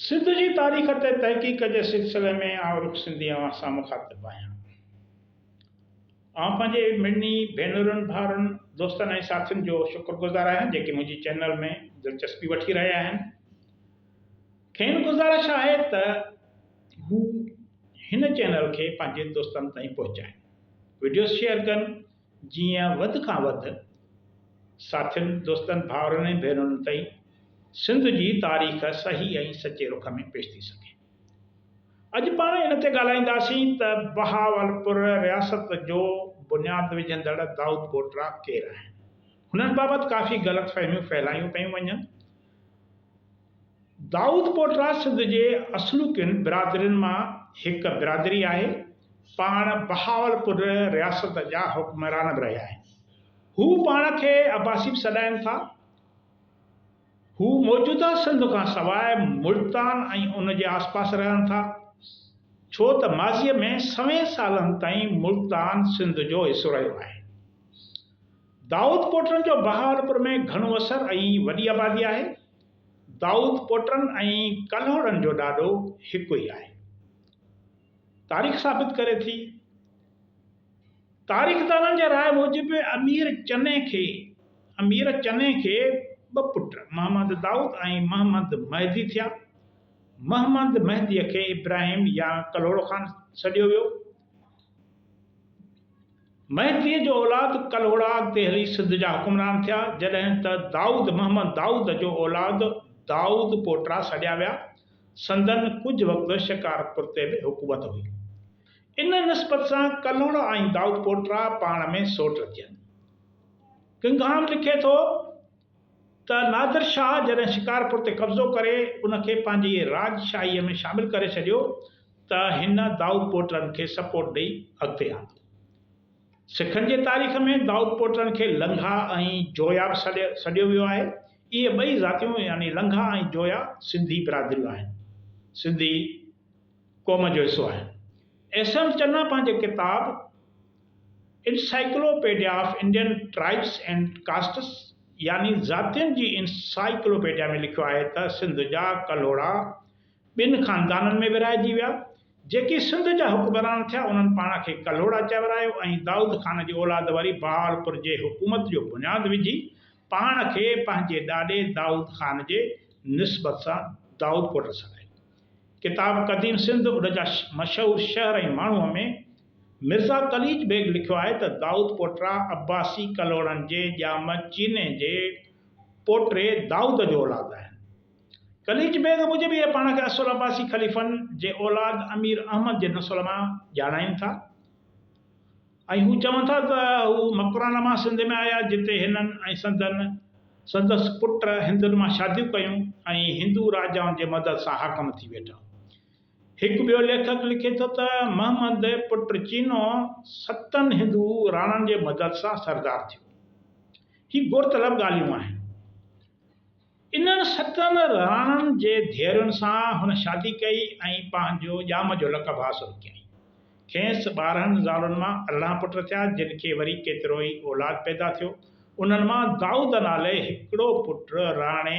سنڌ جي تاريخ تي تحقيق جي سلسلي ۾ آئون رخ سنڌي اوهان سان مخاطب آهيان. آئون پنهنجي مڙني ڀينرن، ڀائرن، دوستن ۽ ساٿين جو شڪر گذار آهيان جيڪي منهنجي چينل ۾ دلچسپي وٺي رهيا آهن. کين گذارش آهي ته هو هن چينل کي پنهنجي دوستن تائين پهچائين، وڊيوز شيئر ڪن، جيئن وڌ کان وڌ ساٿين، دوستن، ڀائرن ۽ ڀينرن تائين سنڌ جي تاريخ صحيح ۽ سچي رخ ۾ پيش ٿي سگهي. اڄ پاڻ ان تي ڳالهائينداسين ته بهاولپور رياست جو بنياد وجهندڙ دائود ڪوٽرا ڪير آهن؟ هنن بابت ڪافي غلط فهميون ڦهلايون پيون وڃن. دائود پوٽرا سنڌ جي اصلوڪين برادرين مان هڪ برادري آهي. پاڻ بهاولپور رياست جا حڪمران به رهيا آهن. هو پاڻ کي عباسي به سڏائين ٿا. هو موجوده سنڌ کان سواء ملتان ۽ ان جي آسپاس رهن ٿا. ڇو ته ماضيء ۾ سوين سالن تائين ملتان سنڌ جو حصو رهيو آهي. دائود پوٽرن جو بهاولپور ۾ گهڻو اثر ۽ وڏي آبادي آهي. دائود پوٽرن ۽ ڪلهوڙن جو ڏاڏو هڪ ئي آهي. تاريخ ثابت ڪري ٿي. تاريخدانن جي راء موجب امير چني کي امير چني کي ٻه پٽ محمد دائود ۽ محمد مهدي ٿيا. محمد مهديء کي ابراهيم يا ڪلهوڙو خان سڏيو ويو. مهديء جو اولاد ڪلهوڙا دهلي سنڌ جا حڪمران ٿيا، جڏهن ته دائود محمد دائود جو اولاد دائود پوٽرا سڏيا ويا. سندن ڪجهه وقت شڪارپور تي به حڪومت هئي. ان نسبت سان ڪلهوڙا ۽ دائود پوٽرا پاڻ ۾ سوٽ ٿين. گنگهام لکي ٿو. ته نادر شاهه جڏهن شڪارپور تي قبضو ڪري ان کي پنهنجي راڄ شاهيء ۾ شامل ڪري ڇڏيو ته هن دائود پوٽرن کي سپورٽ ڏئي اڳتي آندو. سکن جي تاريخ ۾ دائود پوٽرن کي لنگها ۽ جويا به سڏيو ويو آهي. اهي ٻئي ذاتيون يعني لنگها ۽ جويا سنڌي برادريون آهن. سنڌي قوم جو حصو آهن. احسن چنا پنهنجي ڪتاب. Encyclopedia of Indian tribes and castes يعني ذاتين جي انسائيڪلوپيڊيا ۾ لکيو آهي ته سنڌ جا ڪلهوڙا ٻن خاندانن ۾ ورهائجي ويا، جيڪي سنڌ جا حڪمران ٿيا انهن پاڻ کي ڪلهوڙا چئي ورايو ۽ دائود خان جي اولاد وري بهاولپور جي حڪومت جو بنياد وجهي پاڻ کي پنهنجي ڏاڏي دائود خان جي نسبت سان دائودپور رسايو. ڪتاب قديم سنڌ ان جا مشهور شهر ۽ ماڻهوء ۾ مرزا قليچ بيگ لکيو آهي ته دائود پوٽرا عباسي ڪلهوڙن جي ڄام چيني جي پوٽري دائود جو اولاد آهن. قليچ بيگ موجب اهي پاڻ کي اصل عباسي خليفن جي اولاد امير احمد جي نسل مان ڄاڻائين ٿا ۽ هو چون ٿا ته هو مڪران مان سنڌ ۾ آيا جتي هنن ۽ سندن سندس پٽ هندن مان شاديون ڪيون ۽ هندو راجائن جي مدد سان حاڪم ٿي ويٺا. هڪ ٻيو ليکڪ لکي ٿو ته محمد پٽ چينو ستن هندو راڻن جي مدد سان سردار ٿيو. هي غور طلب ڳالهيون آهن. انهن ستن راڻن جي ڌيئرن سان هن شادي ڪئي ۽ پنهنجو ڄام جو لقب حاصل ڪيائين. کيس ٻارهن زالن مان ارڙهن پٽ ٿيا، جن کي وري ڪيتروئي اولاد پيدا ٿيو. انهن مان دائود نالي هڪڙو پٽ راڻي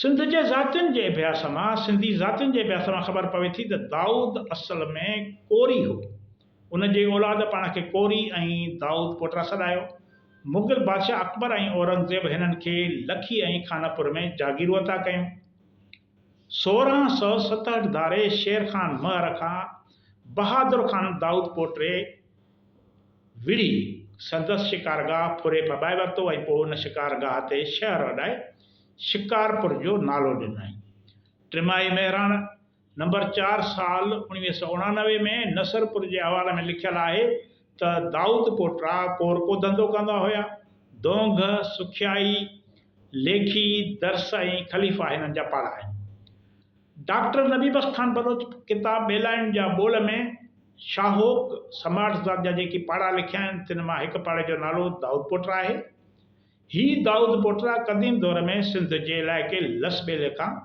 سنڌ جي ذاتين جي اڀياس مان، سنڌي ذاتين جي اڀياس مان خبر پوي ٿي ته دائود اصل ۾ ڪوري هو. ان جي اولاد پاڻ کي ڪوري ۽ دائود پوٽرا سڏايو. مغل بادشاهه اڪبر ۽ اورنگزيب هنن کي لکي ۽ خانپور ۾ جاگيرون عطا ڪيون. سورهن سؤ ستهٺ ڌاري شير خان مهر کان بهادر خان دائود پوٽري، وڙهي، سندس شڪارگاهه ڦري ڦٻائي ورتو ۽ پوء ان شڪارگاهه تي شهر اڏائي شڪارپور جو نالو ڏنائين. ٽماهي مهراڻ، نمبر چار، سال اوڻويهه سؤ اڻانوي ۾ نصرپور جي احوال ۾ لکيل آهي ته دائود پوٽرا ڪور ڪو ڌنڌو ڪندا هيا. دونگهه، سکيائي، ليکي، درس ۽ خليفا هنن جا پاڙا آهن. ڊاڪٽر نبي بخش خان بلوچ ڪتاب ٻيلاڻين جا ٻول ۾ شاهوڪ سماٽ ذات جا جيڪي پاڙا لکيا آهن، تن مان هڪ پاڙي جو نالو دائود پوٽرا آهي. هي دائود پوٽرا قديم دور ۾ سنڌ جي علائقي لس ٻيلي کان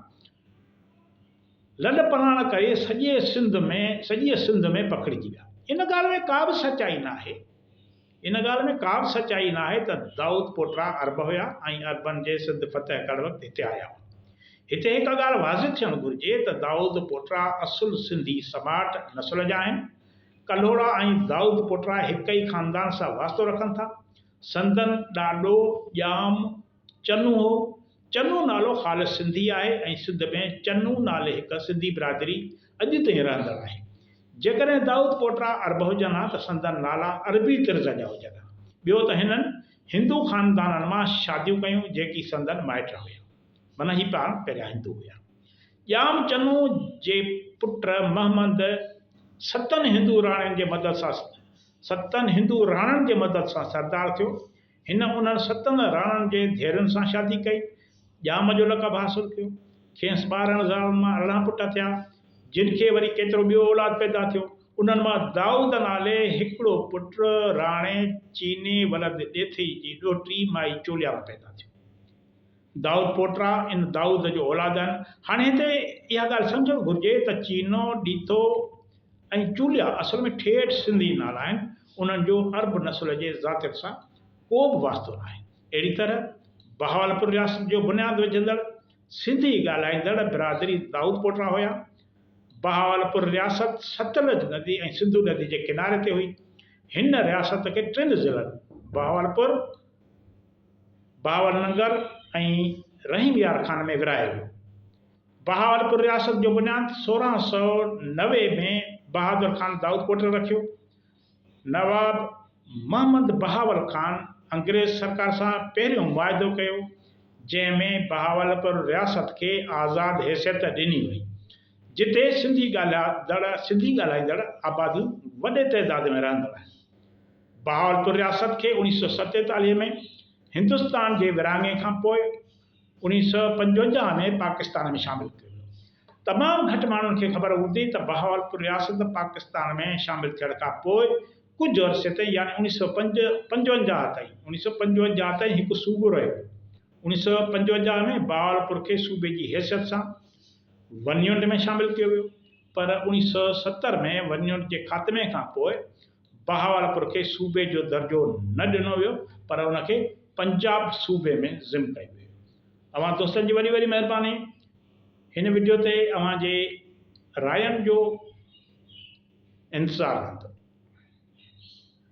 لڏ پلاڻ ڪري سڄي سنڌ ۾ سڄيء سنڌ ۾ پکڙجي ويا. ان ڳالهه ۾ ڪا به سچائي ناهي. ان ڳالهه ۾ ڪا به سچائي ناهي ته دائود پوٽرا عرب هيا ۽ عربن جي سنڌ فتح ڪرڻ وقت هتي آيا هئا. هتي هڪ ڳالهه واضح ٿيڻ گهرجي ته دائود پوٽرا اصل سنڌي سماٽ نسل جا آهن. ڪلهوڙا ۽ دائود پوٽرا هڪ ئي خاندان سان واسطو رکن ٿا. سندن ڏاڏو ڄام، چنو هو. چنو نالو خالص سنڌي آهي ۽ سنڌ ۾ چنو نالي هڪ سنڌي برادري اڄ تائين رهندڙ آهي. جيڪڏهن دائود پوٽرا عرب هجن ها ته سندن نالا عربي طرز جا هجن ها. ٻيو ته هنن هندو خاندانن مان شاديون ڪيون جيڪي سندن مائٽ نه هيا. من هي پاڻ پهريان هندو هيا. ڄام چنو جي پٽ مهمند ستن هندو راڻين جي مدد سان ستن هندو راڻن جي مدد سان سردار ٿيو. هن انهن ستن راڻن جي ڌيئرن سان شادي ڪئي. ڄام جو لقب حاصل ڪيو. کيس ٻارهن زالن مان ارڙهن پٽ ٿيا، جن کي وري ڪيترو ٻيو اولاد پيدا ٿيو. انهن مان دائود نالي هڪڙو پٽ راڻي چيني ولد ڏيٿئي جي ڏوهٽي مائي چوليا مان پيدا ٿيو. دائود پوٽرا ان دائود جو اولاد آهن. هاڻي هتي اها ڳالهه سمجهڻ گهرجي ته چينو، ڏيٿو ۽ چوليا اصل ۾ ٺيٺ سنڌي نالا آهن. انهن جو عرب نسل جي ذاتيت سان ڪو به واسطو ناهي. اهڙي طرح بهاولپور رياست جو بنياد وجهندڙ سنڌي ڳالهائيندڙ برادري دائود پوٽرا هيا. بهاولپور رياست ستلج ندي ۽ سنڌو ندي جي ڪناري تي هئي. هن رياست کي ٽن ضلعن بهاولپور، بهاول ننگر ۽ رحيم يار خان ۾ ورهايو ويو. بهاولپور رياست جو بنياد سورهن سؤ نوي ۾ بهادر خان دائود پوٽرا رکيو. نواب محمد بهاول خان انگريز سرڪار سان پهريون معاهدو ڪيو، جنهن ۾ بهاولپور رياست کي آزاد حيثيت ڏني وئي، جتي سنڌي ڳالهائدڙ سنڌي ڳالهائيندڙ آباديون وڏي تعداد ۾ رهندڙ آهن. بهاولپور رياست کي اوڻيهه سؤ ستيتاليهه ۾ هندستان جي ورهاڱي کان پوء، انيس سؤ پنجونجاهه ۾ پاڪستان ۾ شامل ڪيو ويو. تمام گهٽ ماڻهن کي خبر هوندي ته بهاولپور رياست پاڪستان ۾ شامل ٿيڻ کان پوء ڪجهه عرصي تائين يعني انيس سؤ پنجونجاهه تائين انيس سؤ پنجونجاهه تائين هڪ صوبو رهيو. انيس سؤ پنجونجاهه ۾ بهاولپور کي صوبي جي حيثيت سان ون يونٽ ۾ شامل ڪيو ويو پر انيس سؤ ستر ۾ ون يونٽ جي خاتمي کان پوء بهاولپور کي صوبي جو درجو نه ڏنو ويو پر ان کي پنجاب صوبي ۾ ضم ڪيو ويو. اوهان دوستن جي وڏي وڏي مهرباني هن وڊيو تي اوهان جي راين جو انتظار رهندو.